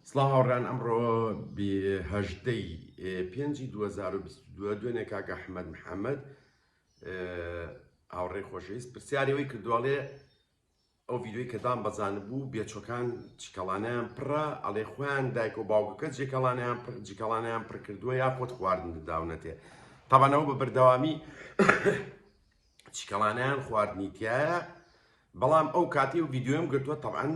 سڵاو هاوڕێیان ئەمڕۆ هەژدەی پێنجی 2022 دوێنێ کاک ئەحمەد محەممەد هاوڕێ خۆشەویست پرسیارەوەی کردوواڵێ ئەو ڤیددیوی کەدان بەزان بوو بێچۆکان چکەڵانیان پڕە ئەڵێ خۆیان دایک و باوکەکە جێکەڵانیان پر جیکەڵانیان پڕکردووە یا خۆت خواردن داونەتێ تاوانەوە بە بەردەوامی چکەڵانیان خواردنی تایە بەڵام ئەو کاتی و ڤیددیوم گرتووە تەعاان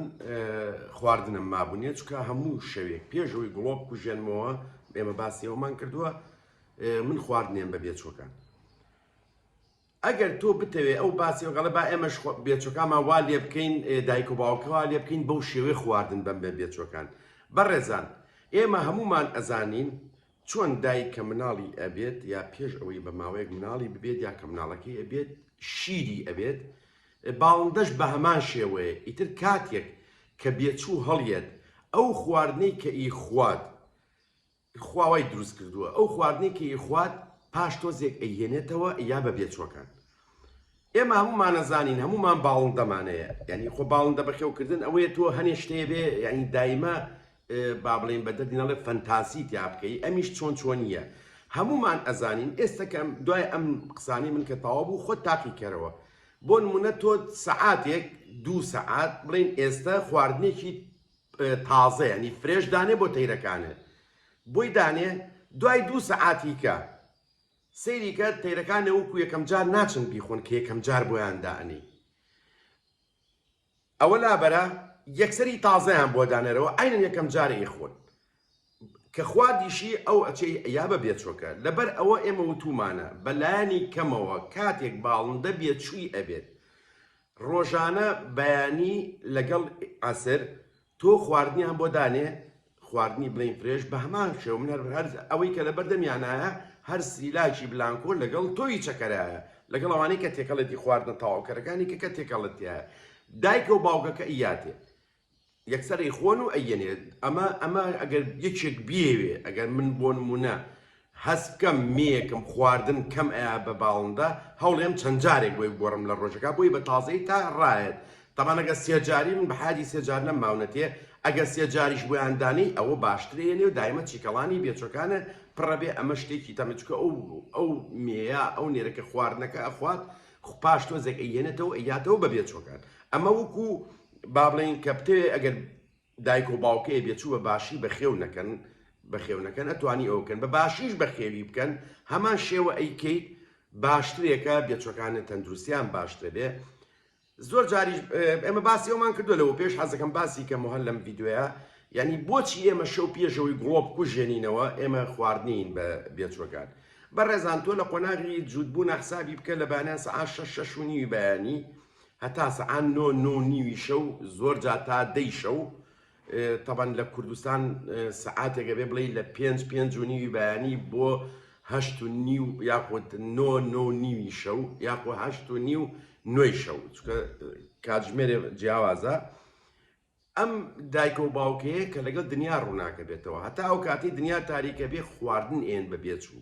خواردنم مابوونیە چکە هەموو شەوێک پێشەوەی گڵۆپ کوژێنمەوە ئێمە باسیەوەمان کردووە من خواردنێن بە بێچۆکان ئەگەر تۆ بتەوێت ئەو باسی وگەڵە با ئێمەش بێچەکانمان وا لێ بکەین دایک و باوکەوە لێ بکەین بەو شێوەی خواردن بەم بە بێچەکان بەڕێزان ئێمە هەمومان ئەزانین چۆن دایک کە مناڵی ئەبێت یا پێش ئەوەی بە ماوەیەک مناڵی ببێت یا کە مناڵەکەی ئەبێت شیری ئەبێت باڵندەش بە هەمان شێوەیە ئیتر کاتێک کە بێچوو هەڵیەت ئەو خواردنەی کە ئی خوات خواوای دروست کردووە ئەو خواردنەی کە ئی خوات پاش تۆزێک ئەیهێنێتەوە یا بە بێچوەکان ئێمە هەمومانەزانین هەمومان باڵندەمانەیە ینی خۆ باڵندە بەخێوکردن ئەوەیە تۆ هەنێ شتێ بێ ینی دایمە با بڵێین بە دەردی نەڵێ فەنتاسی تیا بکەی ئەمیش چۆن چۆنیە هەمومان ئەزانین ئێستەکەم دوای ئەم قسانی من کە تەوا بوو خۆ تاقی کەرەوە بۆ نمونە تۆ سەعاتێک دوو سەعات بڵێن ئێستا خواردنێکی تازە ینی فرێش دانێ بۆ تەیرەکانێ بۆی دانێ دوای دوو سەعاتیکە سەیریکە تەیرەکانە وەکو یەکەم جار ناچن بیخۆن کە یەکەم جار بۆیان دانی ئەوە لابەرە یەکسەری تازەیان بۆ دانەرەوە عەینەن یەکەم جارە ئیخون کە خوا دیشی ئەو ئەچێی یا بە بێچۆکە لەبەر ئەوە ئێمە وتومانە بە لایەنی کەمەوە کاتێک باڵندە بێ چووی ئەبێت ڕۆژانە بەیانی لەگەڵ عەسر تۆ خواردنیان بۆ دانێ خواردنی بلین فرێش بە هەمان شێوە من هەر هەر ئەوەی کە لە بەردەمیانایە هەر سریلاکی بلانکۆ لەگەڵ تۆی چەکەرایە لەگەڵ ئەوانەی کە تێکەڵێتی خواردنە تەواوکەرەکانی کە کە تێکەڵەتە دایکە و باوکەکە ئیاتێ یەکسەری خۆن و ئەیەنێ ئەمە ئەمە ئەگەر یەکێک بێوێ ئەگەر من بۆ نمونە هەست بکەم مێیەکم خواردن کەم ئەیا بە باڵندە هەوڵێم چەند جارێک بۆی بگۆڕم لە ڕۆژەکا بۆی بە تازەی تا ڕایەت تەبان ئەگە سێجاری من بە حاجی سێجار نەم ماونەتێ ئەگە سێجاریش بۆیان دانێی ئەوە باشترە یەنێ و دایمە چیکەڵانی بێچەکانە پڕە بێ ئەمە شتێکی تەمە چکە ئەو ئەو مێیە ئەو نێرەکە خواردنەکە ئەخوات خوپاش تۆزێک ئەیەنێتەوە یاتەوە بە بێچۆکان ئەمە وکو با بڵێن کە بتەوێ ئەگەر دایک و باوکێ بێ چوو بە باشی بە خێو نەکەن بە خێو نەکەن ئەتوانی ئەو کەن بە باشیش بە خێوی بکەن هەمان شێوە ئەیکەیت باشترێکە بێچەکانە تەندروستیان باشترە بێ زۆر جاریش ئێمە باسی ئەومان کردو لەەوە پێش حەزەکەم باسی کە مهل لەم یددیوە یعنی بۆچی ئێمە شەو پێشەوەی گڵۆپ کوژێنینەوە ئێمە خواردنین بە بێچوەکان بە ڕێزان تۆ لە قۆناغی جوودبوو نەحسابی بکە لە بانە سە شش شونی بەیانی هەتا سەعان نۆ نۆ و نیوی شەو زۆر جا تا دەی شەو تەبەن لە کوردستان سەعاتێکە بێ بڵێ لە پێنج پێنج و نیوی بەیانی بۆ هەشت و نیو یاخود نۆ نۆ نیوی شەو یاخۆ هەشت و نیو نوێی شەو چکە کاتژمێرێ جیاوازە ئەم دایکە و باوکەیە کە لەگەڵ دنیا ڕووناکە بێتەوە هەتا ئەو کاتی دنیا تاریکە بێ خواردن ئێن بە بێچوو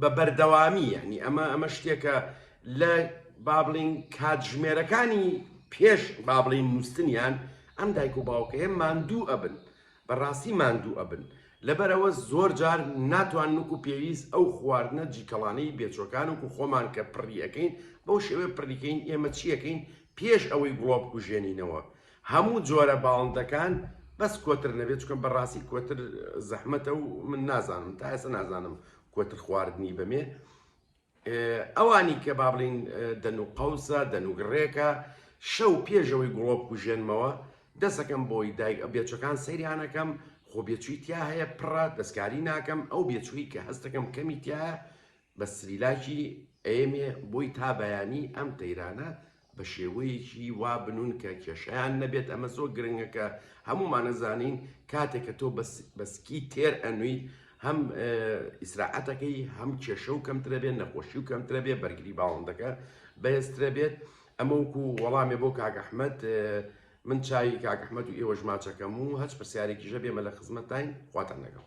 بە بەردەوامی یانی ئەمە ئەمە شتێکە لە بابلین کاتژمێرەکانی پێش بابلین نووسنیان ئەم دایک و باوکەیە ماندوو ئەبن بەڕاستی ماندوو ئەبن لەبەرەوە زۆر جار ناتوان نوک و پێویست ئەو خواردنە جیکەڵانەی بێچۆکان وکو خۆمان کە پڕیەکەین بەو شێوێ پڕیکەین ئێمە چیەکەین پێش ئەوەی گوڵۆ بکوژێنینەوە هەموو جۆرە باڵندەکان بەس کۆتر نەبێت چکە بەڕاستی کۆتر زەحمەتە و من نازانم تا ئێستا نازانم کۆتر خواردنی بەمێ ئەوانی کە با بڵین دەن و قەوسە دەنوگڕێکە شەو پێشەوەی گوڵۆ بکوژێنمەوە دەسەکەم بۆی دایک ئە بێچەکان سەیرانەکەم خۆ بێچووی تیا هەیە پڕە دەستکاری ناکەم ئەو بێچووی کە هەستەکەم کەمی تایە بە سریلاکی ئەمێ بۆی تا بەیانی ئەم تەیرانە بە شێوەیەکی وا بنوون کە کێشەیان نەبێت ئەمە زۆر گرنگە کە هەموومان ئەزانین کاتێک کە تۆ بە سکی تێر ئەنوویت هەم ئیسراعەتەکەی هەم کێشە و کەمترە بێت نەخۆشی و کەمترە بێ بەرگری باڵندەکە بەهێزترە بێت ئەمە وکو وەڵامێ بۆ کاگەحمەد من چاوی کاگەحمەد و ئێوەژماچەکەم و هەچ پرسیارێکیژە بێمە لە خزمەتتاین خواتان لەگەڵ